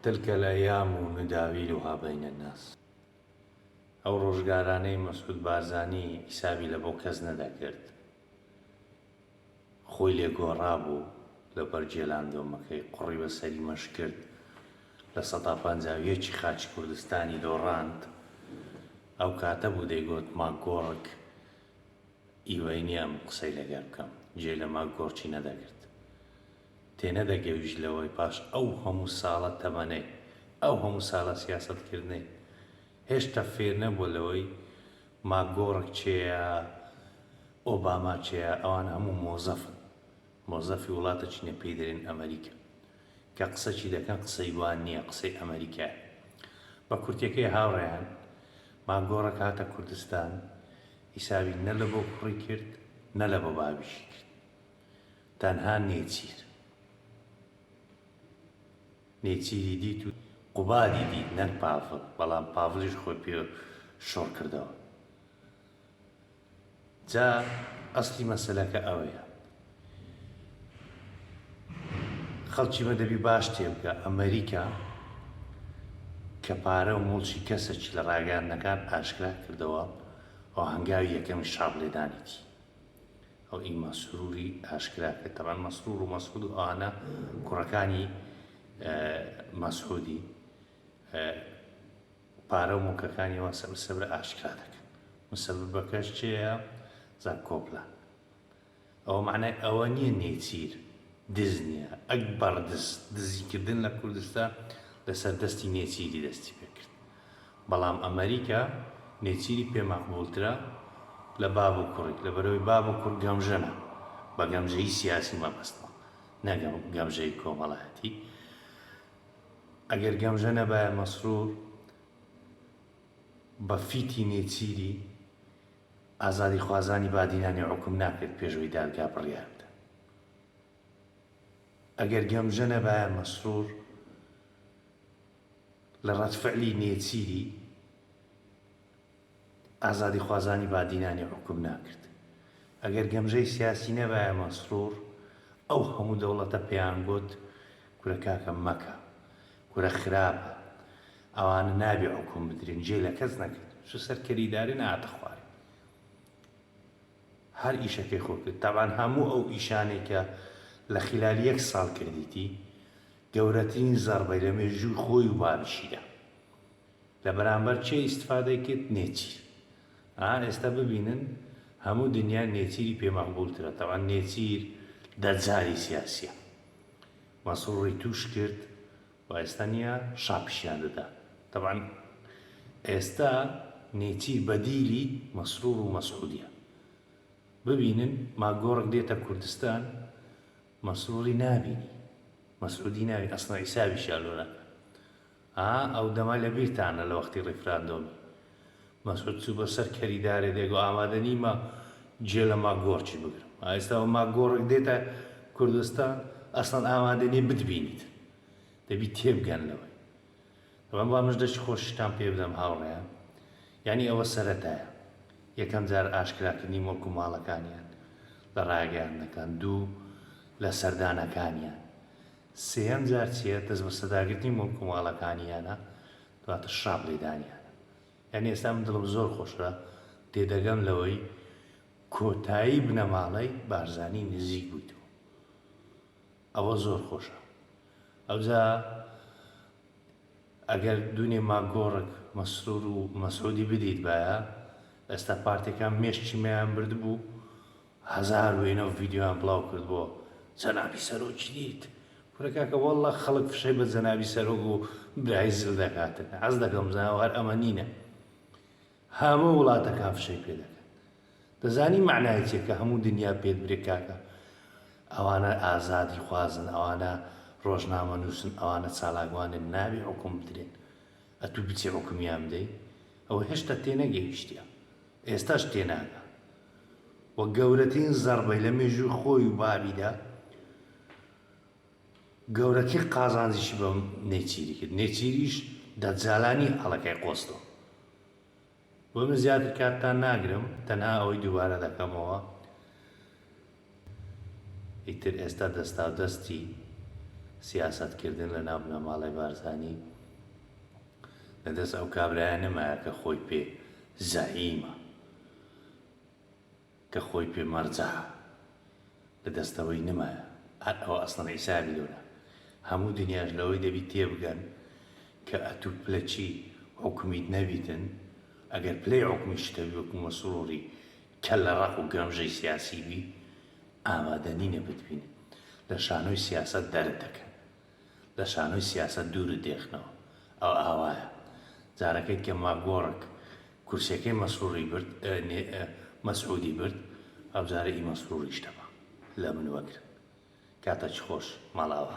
تلک الایام نداویلها بین الناس ئەو ڕۆژگارانەی مەسعود بارزانی حیسابی لە بۆ کەس نەدەکرد خۆی لێ گۆڕابوو لە بەر جێلاندۆمەکەی قوڕی بە سەری مەش کرد لە سەدا پەنجا ویەکی خاچی کوردستانی دۆڕاند ئەو کاتە بوو دەیگۆت ماک گۆڕک ئیوەی نییە ئەم قسەی لەگەر بکەم جێ لە ماک گۆڕکی نەدەگرت تێنەدەگەویشت لەوەی پاش ئەو هەموو ساڵە تەمەنەی، ئەو هەموو سالە سیاسەتکردنەی، هێشتا فێرنەبووە لەوەی ماکگۆڕک کێیە، ئۆباما کێیە، ئەوانە هەموو مۆزەفن، مۆزەفی وڵاتە چینە پێی دەرێن ئەمەریکا، کە قسەکی دەکەن قسەی وا نییە قسەی ئەمەریکایە. بە کورتێکەی هاوڕێیان، ماکگۆڕک هاتە کوردستان، حیسابی نە لە بۆ کوڕی کرد، نە لە بۆ باویشی کرد. تەنها نێچیر نێچیری دیت و قوبادی دیت نەک پاڤڵ بەڵام پاڤڵیش خۆی پێ شۆڕ کردەوە جا ئەسلی مەسەلەکە ئەوەیە خەڵکی مە دەبی باش تێبگە ئەمریکا کە پارە و مڵکی کەسێکی لە ڕاگەاندنەکان ئاشکرا کردەوە ئەو هەنگاوی یەکەمی شاڕ لێدانێتی ئەو ئیما سروری ئاشکرا کرد تەبان مەسرور و مەسعود و ئانە کوڕەکانی مەسعودی پارە و موکەکانی وا سەبر سەبرە ئاشکرا دەکەن مسەبەکەش چێە زان کۆپلان ئەوە معنای ئەوە نییە نێچیر دز نییە ئەک بەڕدز دزیکردن لە کوردستان لەسەر دەستی نێچیری دەستی پێکرد بەڵام ئەمەریکا نێچیری پێ مەقبووڵترە لە باب و کوڕی، لەبەرئەوەی باب و کوڕ گەمژەنە، بە گەمژەیی سیاسی مەبەستمە نە گەمژەیی کۆمەڵایەتی، ئەگەر گەمژە نەبایە مەسرور بە فیتی نێچیری ئازادیخوازانی بادینانی حوکم ناکرد پێش ئەوەی دادگا بڕیار بدات، ئەگەر گەمژە نەبایە مەسرور لە ڕەدفعلی نێچیری ئازادیخوازانی بادینانی حوکم ناکرد. ئەگەر گەمژەی سیاسی نەبایە مەسرور ئەو هەموو دەوڵەتە پێیان گۆت کورە کاکە مەکە کورە خراپە ئەوانە نابێ حوکم بدرێن جێ لە کەس نەکرد چ سەر کەری دارێ نەهاتە خوارێ هەر ئیشەکەی خۆی کرد تەبعەن هەموو ئەو ئیشانەی کە لە خیلالی یەک ساڵ کردیتی گەورەترین زەڕبەی لە مێژووی خۆی و بابیشیدا لە بەرامبەر چێ ئیستفادەی کرد نێچیر ئا ئێستا ببینن هەموو دنیا نێچیری پێ مەقبول ترە تەبعەن نێچیر دەجالی سیاسیە مەسڕوڕی تووش کرد و ئێستا نیە شا پیشیان دەدا تەبعەن ئێستا نێچیر بەدیلی مەسڕوڕ و مەسعودیە ببینن ماگۆڕک دێتە کوردستان مەسروری نابینی مەسعودی ناوی ئەسڵە حیسابیشیان لۆ ناکەن ها ئەو دەمە لە بیرتانە لە وەختی ڕیفراندۆمی مەسعود چوو بە سەر کەری دارێ دێگۆ ئامادە نیمە جێ لە ماگۆڕچی بگرم ئایستا بە ماگۆڕک دێتە کوردستان ئەسڵەن ئامادە نیە بتبینیت دەبی تێبگەن لەوەی بەڵام وا مژدە چ خۆشیشتان پێ بدەم هاوڕێیان، یانی ئەوە سەرەتایە، یەکەم جار ئاشکراکردنی موڵک و ماڵەکانیان لە ڕاگەیاندنەکان، دوو لە سەردانەکانیان، سێیەم جار چییە، دەستبەسەداگرتنی موڵک و ماڵەکانیانە، دواتر شڕاپ لێدانیانە. یانی ئێستا من دڵم زۆر خۆشە، تێدەگەم لەوەی کۆتایی بنەماڵەی بارزانی نزیک بوویتەوە. ئەوە زۆر خۆشە ئەوجا ئەگەر دونێ ماگۆڕک مەسرور و مەسعودی بدەیت بایە ئێستا پارتەکان مێشکی مەیان برد بوو هەزار وێنە و ڤیددیویان بڵاو کرد بۆ جەنابی سەرۆکی دیت کورە کاکە والله خەڵک فشەی بە جەنابی سەرۆک و برای زل دەکاتن عەز دەکەم زاوار ئەمە نینە هەموو وڵاتەکان فشەی پێ دەکەن دەزانی مەعنای چیە کە هەموو دنیا پێت برێ کاکە ئەوانە ئازادی خوازن ئەوانە ڕۆژنامە نووسن ئەوانە چالاکوانن نابێ حکوم بدرێن ئەتوو بچی حکومیان بدەی ئەوە هێشتا تێنەگەیشتە ئێستاش تێناگە و گەورەترین زەربەی لە مێژووی خۆی و بابیدا گەورەتر قازانجیشی بە نێچیری کرد، نێچیریش دەجالانی ئاڵەکەی قۆستەوە. بۆیە من زیاتر کاتتان ناگرم، تەنها ئەوەی دووبارە دەکەمەوە، ئیتر ئێستا دەستاودەستی سیاسەتکردن لە ناو بنەماڵەی بارزانی لە دەست ئەو کابرایە نەمایە کە خۆی پێ زەعیمە. کە خۆی پێ مەرجەع لە دەستەوەی نمایە هەر ئەوە ئەسڵەن عیسایە بیلۆنە هەموو دنیاش لەوەی دەبی تێبگەن کە ئەتوو پلە چی حوکمیت نەبیتن ئەگەر پلەی عوکمیشتەبی وەکو مەسروری کەللە ڕەق و گەمژەی سیاسی بی ئامادەنینە بتبینن لە شانۆی سیاسەت دەرت دەکەن. لە شانۆی سیاسەت دوورت دێخنەوە. ئەوە ئاوایە. جارەکەی کە ماکگۆڕک کورسیەکەی مەسروڕی برد، نێ، مەسعودی برد، ئەوجارە ئی مەسروڕیش تەمە. لە من وەگرن. کاتەکی خۆش. ماڵئاوا.